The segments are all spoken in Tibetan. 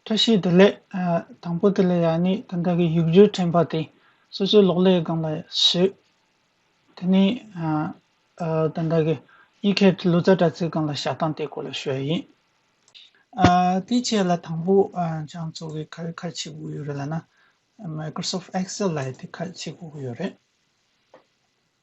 བཀྲ་ཤིས་བདེ་ལེགས། དང་པོ་དེ་ལ་ཡང་ནི་དེ་དག་གི་ཡུལ་བརྒྱུད་དྲན་པ་དེ་སོ་སོའི་ལོག་ལས་སྒང་ལ་ཞུགས། དེ་ནས་དེ་དག་གི་ཡིད་ཁྱེར་གྱི་ལུས་རྩ་སྒྲ་ཚིག་སྒང་ལ་ཞག་གདངས་དེ་སྐོར་ལ་ཞུ་བ་ཡིན། དེའི་ཆེད་ལ་དང་པོ་བྱང་ཚུགས་ཀྱི་ཁ་ཁ་ཕྱེ་དགོས་ཡོད་རེད་ལ་ན། Microsoft Excel ལ་ཡི་དེ་ཁ་ཕྱེ་དགོས་ཀྱི་ཡོད་རེད།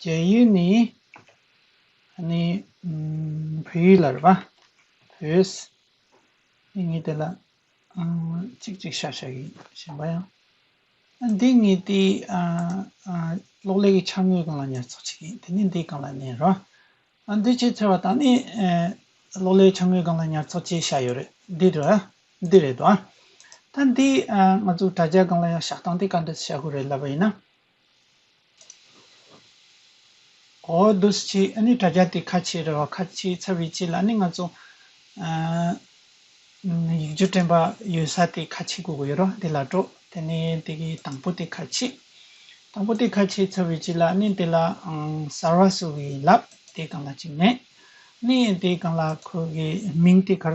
རྒྱན་ཡུལ་ནི། ནི། བོད་ཡུལ་ལ་རེད་པ། བོད། ནི་ངེས་དེ་ལ། ཅིག་ཅིག་ཤ་ཤ་གི་ཞེན་པ་ཡང། འདི་ངེས་དེ། གློག་ཀླད་ཀྱི་འཆར་ངོས་གང་ལ་ཉར་ཚགས་བྱེད་མཁན་དེ་ནི་འདི་གང་ལ་གནས་རེད་པ། འདི་ཆེས་མཚོན་བ་དང་ནི། གློག་ཀླད་འཆར་ངོས་གང་ལ་ཉར་ཚགས་བྱེད་བྱ་ཡོད་རེད་འདི་རེད་བ། འདི་རེད་བ། ད་འདི། ང་ཚོ་དྲ་རྒྱ་གང་ལ་ཡང་བཞག་སྟངས་དེ་ག་འདྲ་བྱ་དགོས་རེད་ལབ་པ་ཡིན་ན། གོ་བོ་འདུག་སྤྱི་ཨ་ནི་དྲ་རྒྱ་དེ་ཁ་ཆེའི་རེ་བ་ཁ་ཆེའི་ཚབ་ཡིན་སྤྱི་ལ་ནི་ང་ཚོ་ཡིག་སྒྱུར་དྲན་པ་ཡོད་ས་དེ་ཁ་ཆེ་དགོས་ཀྱི་ཡོད་རོ་དེ་ལ་འགྲོ་དེ་ནི་དེ་གི་དང་པོ་དེ་ཁ་ཆེ། དང་པོ་དེ་ཁ་ཆེའི་ཚབ་ཡོད་སྤྱི་ལ་ནི་དེ་ལ་གསར་བ་བཟོ་གི་ཡིན་ལབ་དེ་གང་ལ་གཅིག་མེད་ནི་དེ་གང་ལ་ཁོ་གི་མིང་དེ་གར་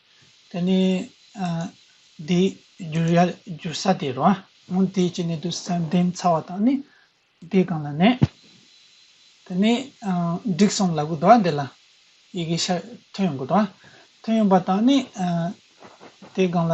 དེ་ནི་དེའི་རྒྱུ་ཡལ་འགྱུར་ས་དེ་རོ། སྔོན་དེའི་ཕྱི་ནས་དུ་ས་འདེམས་ཚར་བ་དང་ནི། དེའི་སྒང་ལ་ནས། དེ་ནི་འགྲིག་སོང་ལ་གུ་དོ་བ་འདི་ལ། ཡི་གེ་ཤར་ཐོན་ཡོང་གུ་དོ་བ། ཐོན་ཡོང་པ་དང་ནི། དེའི་སྒང་ལ།